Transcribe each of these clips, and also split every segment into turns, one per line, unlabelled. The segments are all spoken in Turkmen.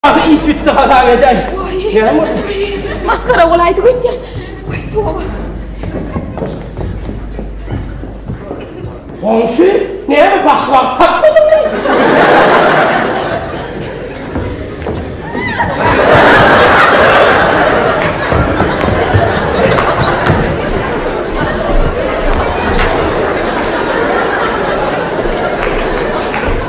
Ahy iş bitdi hazan edäý. Näme boldy? Maskara bolaýdy gitdi. Wah toba. Onşy näme başwagt tapmadyň mı?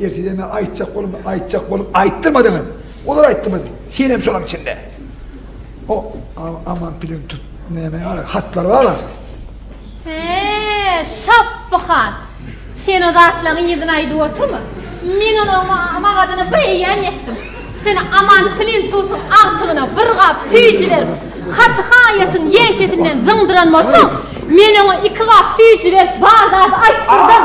Erteden men aýtjak boldum, aýtjak boldum, aýtdyrmadyňyz. Olar aýtdyrmady. Senem şolaň içinde. O aman pilini tut. Näme ýaly hatlar bar. He, Şapby han. Sen o zatlaryň yzyny aýdyp oturma. Men onuň magadyna bir eýýäm ýetdim. Sen aman pilini tutuň agtygyna bir gap süýji berip, haty haýatyň ýeňsesinden zyňdyran bolsaň, men oňa iki gap süýji berip bar zady aýtdyrdym.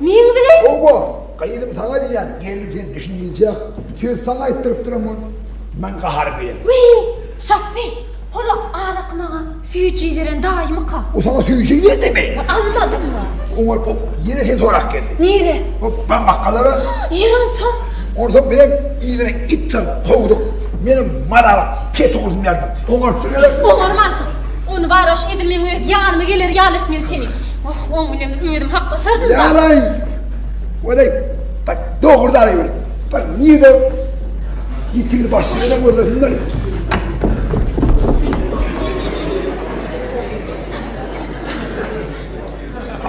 Meň bilen? Hawa, gyzym, saňa diýýän. Gelin, sen düşündirijek. Söz saňa aýtdyrypdyram ol. Men gahar bilen. Wiý, Şapbek, hol-a araky maňa süýji beren daýymyka? O saňa süýji berdimi? Almadymmy? Oňa bu ýene seni sorap geldi. Nirä? Bu bamakalara. Ýeri onsoň. Onsoň biziň yzyna it salyp kowduk. Menem Maral Petugyny berdim. Oňarypdyr gerek. Oňarmansoň, ony baraş edil meň öz ýanyma geler ýaly etmeli seni. Wah, oň bilen bir özüm haklaşardym-da. Ýalaý! Welin, bir dogry-da aýyl, bir nirde ýitigini başga ýere göndersinler.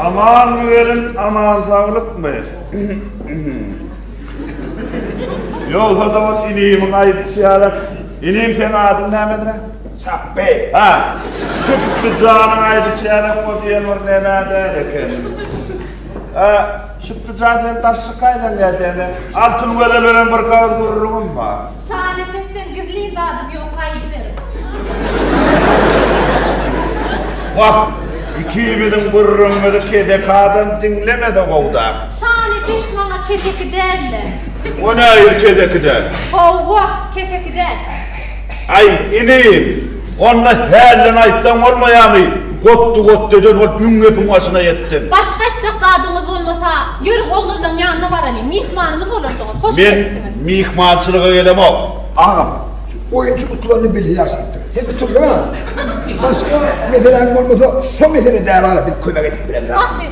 Amanmy welin, aman-saglykmy? Ýogsa-da ol inimiň aýdyşy ýaly. Inim, seň adyň nämedir-ä? Şapby. Hä, Şupby janyň aýdyşy ýaly, o diýen bir nem-ä däl eken. Hä, Şupby jan, sen daşşy kaýdan gelseň-de? Altyn gözel bilen bir garaz gürrüňim bar. Şan epesden gizlin zadym ýok gaýdyberin. Wah, ikimiziň gürrüňimizi keseki adam diňlemese gowda. Şan epes maňa keseki däl-le. O nähili keseki däl? Howwa, keseki däl. Aý, inim! Onda hälden aýtsaň bolmaýamy? Gotdy-gotdydan bolup müň gepiň başyna ýetdiň. Başga aýtjak zadyňyz bolmasa, ýörüň oglanlaň ýanyna baralyň. Myhmanyňyz bolarsyňyz. Hoş gelipsiňiz. Men myhmançylyga gelemok. Agam, şu oýunçy gutlanyny bilhe ýaşadypdyr. Sen bir turluň agam. Başga meseläň bolmasa, şo mesele bäri-ara bir kömek edip bileris agam. Bar siz.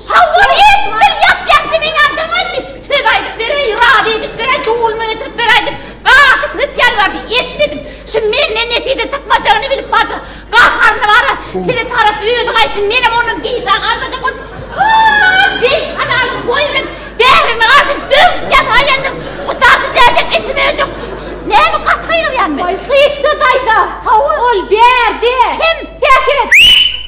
Hawa, edil dil ýap-ýakja men ýazdyrmaýyn diýip, söz aýdyp beräý, razy edip beräý, duwulma getirip beräý diýip, gaty köp ýalbardy, etmedim. Şu menden netije çykmajagyny bilip bardyr. Gaharyny bara, size tarap özi gaýtsyn, menem ondan gijä galmajak bolup, Hoo, deý, halalyň boýy berip, bähbegime garşy döwüp ýataýýandyryn. Şu daşy dälsek, içim öýjek. Şu näme gaty gygyrýan men? Gytja daýza! Hawa. Ol bärde. Kim? Sähet!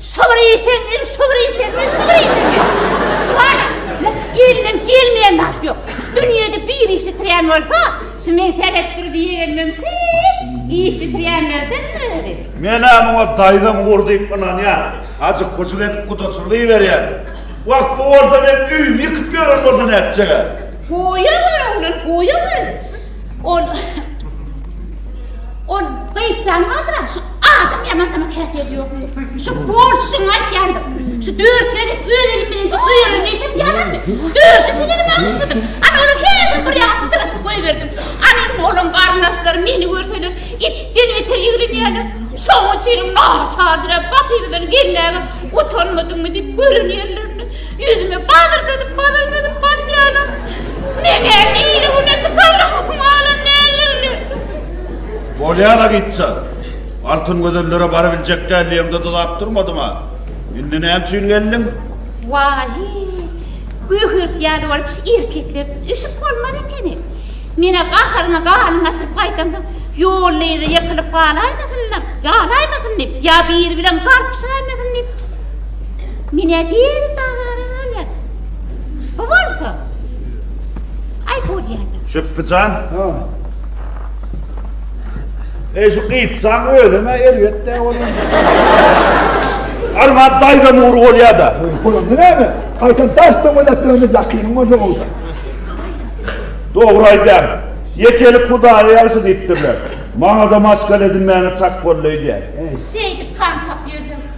Şygyr işeňňir, şygyr işeňňir, şygyr işeňňir. Şuwara, lak elinden gelmeýän zat ýok. Şu dünýede bir iş ýitirýän bolsa, şu meň seretdir diýenim mümkin. Iş ýitirýänlerden özi. Men-ä muňa daýzam ugur diýip ynanýan. Hajy köçük edip gudaçylyk iberýär. Wah, bu bolsa men öýümi ýykyp ýören bolsa nätjeg-ä? Goýawer, oglan, goýawer. Ol Ol gaýtýan wagtyna şu adam ýaman adam käte ýok. Şu bolşuň aýtýandyr. Şu dörtleri öz elim bilen goýarym diýdim ýalan. Dördi seni bagşydyk. Ana olar her bir ýaşy tıratyp goýberdim. Ana indi olam garnaşlar meni görseler itden beter ýigrenýärler. Şoň üçin naçardyr. Batyrydan gelmäge utanmadyňmy diýip görenýärler. Ýüzüme badyr dönüp, badyr dönüp bakýanam, meňem ili-güne çykanlygymy alan däldirler. Bolýar-a gytjak. Altyn gözellere barybiljek däl diýeňde dodap durmadym-a. Indi näme üçin geldiň? Waýy, göhürt ýaly bolup şu erkeklerden öşüp bolmaz ekeni. Men-ä gaharyňa ganyňy atyryp gaýdaňsoň, ýolda ýere ýykylyp galaýmasyn-da, galaýmasyn diýip, ýa biri bilen garpyşaýmasyn diýip. Mine bir bazara gelen. Bu bolsa. Ay bolýada. Şüpbijan. Ha. Ey şu gytjan özüme erbet de bolýa. Armad daýza nur bolýada. Bolanda näme? Gaýtam daş döwlet döwlet ýakynyň bolsa bolda. Dogry aýdýar. Ýekelik hudaýa ýagşy diýipdirler. Maňa-da maşgala edinmäne çak boldy öýdýän. Şeýdip gan tapýarsyň.